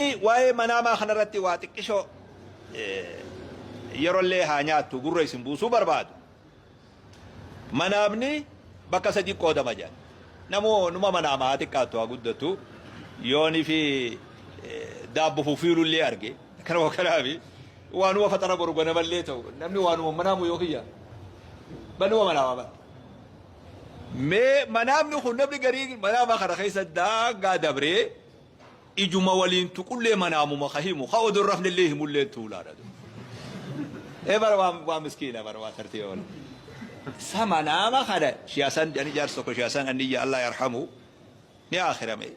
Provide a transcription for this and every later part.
Mee waa'ee manaamaa kanarratti waa xiqqishoo yerollee haa nyaattu gurra isin buusuu barbaadu. Manaamni bakka sadiitti qoodama jedhan. Namuu numa manaama haa xiqqaattu haa guddatu yoon fi daabbo fufiilullee arge kanuma kanaafi waanuma faxara boru ganamallee ta'u namni waanuma manaamu yoo kiyya banuma manaama bara. Mee manaamni kun namni garii manaama kana keessa daangaa dabree Ijuma waliin tuqullee manaamuma ka himu ka odoon rafnellee himulleen tuulaadha du. ee bara waan waan miskiina bara waan tartee oole. Sa manaama kana shiyasan ani jaarsi tokko shiyasan anniyya Allah yarhamu ni aakirame.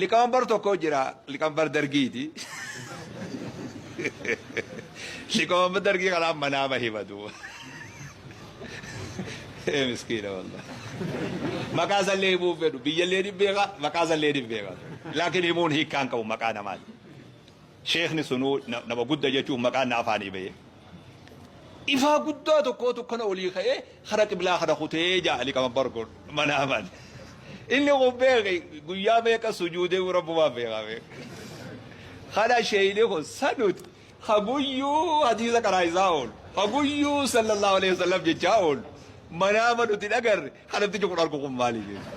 Liqamanbar tokko jira liqamanbar dargiiti. Liqamanbar dargii kanaan manaama hima duuba. Ee miskiina wallah. Maqaa isallee himuu hin fedhu. Biyyallee ni beeka, maqaa isallee ni beeka. Laakiin himuun hiikkaan qabu maqaa namaati. Sheekni sunuu na- nama gudda jechuuf maqaan na afaanii ba'ee. Ifaa guddaa tokkootu kana olii ka'ee hara qiblaa kana kutee jaa Ali Qamabbar kun mana aman. Inni kun beeki guyyaa meeqa sujuudee rabbumaa beekaa beeka. Kana sheeyni kun sanuti. Ka guyyuu hadiisa qaraa'isaa oolu, ka guyyuu sallallahu aleyhi wasallam jechaa oolu, manaama nuti hin agarre, ka namtichi kun argu kun maali jechuudha.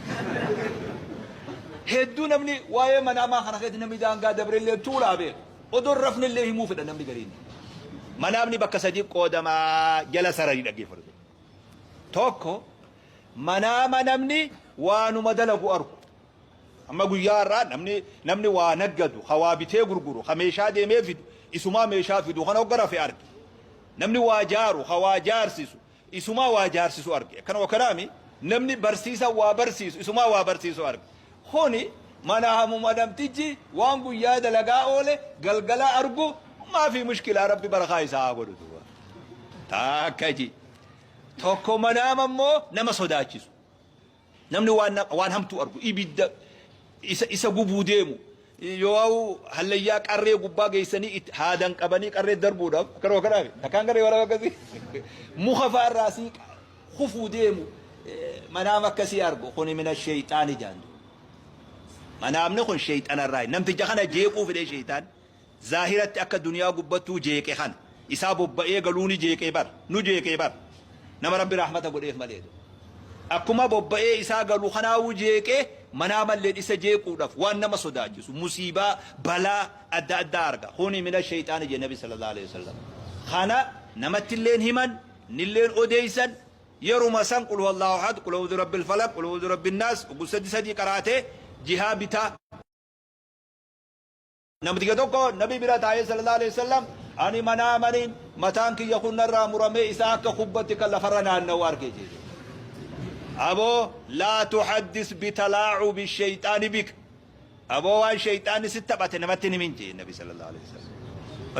Hedduu namni waa'ee manaamaa kana keessatti namni daangaa dabrellee tuulaa beeka. Odoo hin rafnellee himuu fedha namni gariin. Manaamni bakka sadii qoodamaa jala sarari dhaggeeffatu. Tokko manaama namni waanuma dalagu argu. Amma guyyaa har'aa namni namni waa naggadu, ka waa bitee gurguru, ka meeshaa deemee fidu isumaa meeshaa fidu kana hogga rafe arge. Namni waa jaaru, ka waa jaarsisu isumaa waa jaarsisu arge. Akkanuma kanaami namni barsiisan waa barsiisu isumaa waa barsiisu arge. Kuni manaa hamuma namtichi waan guyyaa dalagaa oole galgala argu maafii mushkilaa rabbi barakaa isaa haa godhu duuba. Taakka ji. Tokko manaama immoo nama sodaachisu. Namni waan, waan hamtuu argu, ibidda isa, isa gubuu deemu, yooau hallayyaa qarree gubbaa geessanii itti, haadan qabanii qarree darbuudhaaf, akkanuma kanaami. Takkaan garee waraaba akkasii muka faa irraa asii qa- kufuu deemu, eh, manaama akkasii argu, kuni mina sheeyxaani jaandu. Manaamni kun sheeyxana irraa, namticha kana jeequu fidee sheeyxaan, Zaahiratti akka duniyaa gubbattuu jeeqe kana isaa bobba'ee galuu ni jeeqee bar nu jeeqee bar nama rabbi rahmata godheef malee do akkuma bobba'ee isaa galu kanaawu jeeqee manaa malleen isa jeequudhaf waan nama sodaachisu musiibaa balaa adda addaa arga kuni mina sheyxaani je nabi sallallahu alaihi wasallam kana namattilleen himan nilleen odeeysan yeruma san qul huwallahu ahad qul a'udhu rabbil falaq qul a'udhu rabbin nas ugu sadi sadi qaraate jihaa bitaa Namticha tokko Nabii bira taa'ee sallallahu aleyh wassallam ani manaamani mataan kiyya kun narraa muramee isaa akka kubbatti kan lafarra naanna'u arge jee jedhe. Aboo laa tuhaddis bitalaacubi sheyxaani bik aboo waan sheyxaanni sitti taphate namatti hin himin jee Nabii sallallahu aleyh wassallam.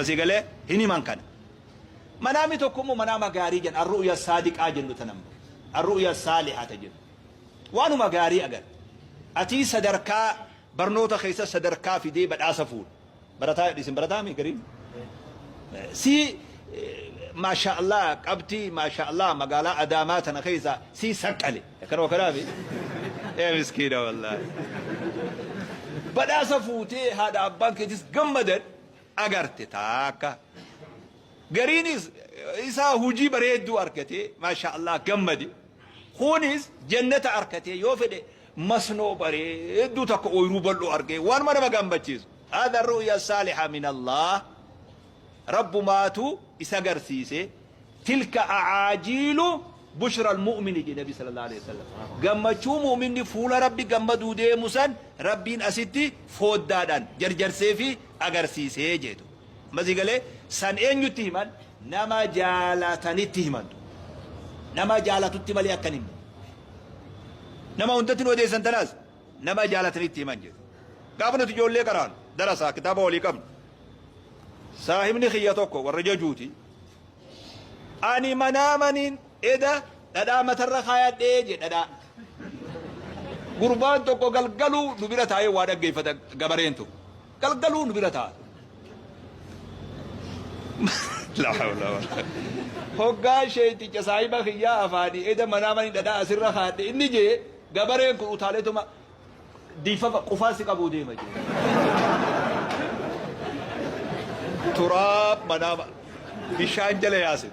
Asii galee hin himan kana. Manaami tokko immoo manaama gaarii jenna arru'ya saadiqaa jennu tan ammoo arru'ya saalihata jennu. Waanuma gaarii agarta. Atii sadarkaa Barnoota keessas sadarkaa fidee badhaasa fuudhe. Barataa jedhu isin barataa mii gariin? C Maashaa Allaah qabxii Maashaa Allaah magaalaa Adaamaa tana keessaa C saqqale. Akkanuma kanaa mii? Ee miskiina wallaahi. Badhaasa fuutee haadha abbaan keetis gammadan agarte taakka. Gariinis isaa hujii bareedduu argatee Maashaa Allaah gammade. Kunis jannata arkatee yoo fedhe Masnoo bareedduu takka ooyruu bal'oo argee waanuma nama gammachiisu. Haadha ru'ya saaliha min Allah Rabbumaatu isa garsiise tilka a'aajiilu bushral mu'mini jedhe nabi sallallahu aleyh wasallam gammachuu mu'minni fuula rabbi gammaduu deemu san rabbiin asitti fooddaadhan jarjarseefi agarsiise jeetu. Mazi galee San eenyutti himan? Nama jaalatanitti himan. Nama jaalatutti malee akka hin himne. Nama hundatti nu odeessan tanaas nama jaalatanitti himan jedhe. Gaafa nuti ijoollee qaraanu darasaa kitaaba walii qabnu. Saahibni kiyya tokko warra jajuuti. Ani manaa maniin eda dhadhaa matarra kaayadhee jedhe dhadhaa. Gurbaan tokko galgaluu nu bira taa'ee waa dhaggeeffata gabareen tokko. Galgaluu nu bira taa'an. La hawla wala quwwata. Hoggaa sheeyticha saahiba kiyyaa afaanii eda manaa mani dhadhaa asirra kaadhe inni jee gabareen kun utaaleetuma diifafa qufaa si qabuu deema jee. Turaab manaama bishaan jala yaasin.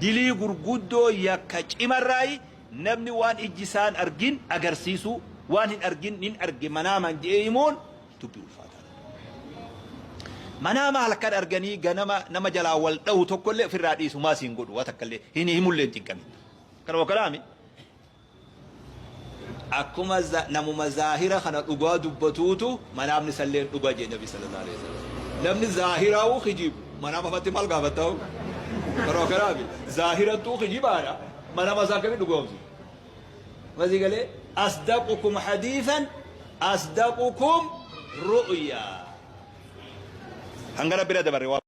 Dilii gurguddoo yakka cimarraayi namni waan ijji isaa hin argin agarsiisuu, waan hin argin nin arge manaamaan jedhee himuun dubbii ulfaataadha. Manaama halkan arganii ganama nama jalaa wal dhahu tokkollee ofirraa dhiisu maa siin godhu waa takkallee hin himullee hin cinqamin. Kanuma kanaami. Akkuma namuma zaahira kana dhugaa dubbatuutu manaamni isalleen dhuga jee nabi sallallahu alaihi wasallam. Namni zaahiraa'uu kijibu manaama fatti maal gaafattaa'u? Yeroo kanaafi zaahirattuu kijibaadha manaama isaa akkami dhugoomsu? Masii galee asdaqukum hadiisan asdaqukum ru'yaa. Hanga rabbi irra dabarre waa.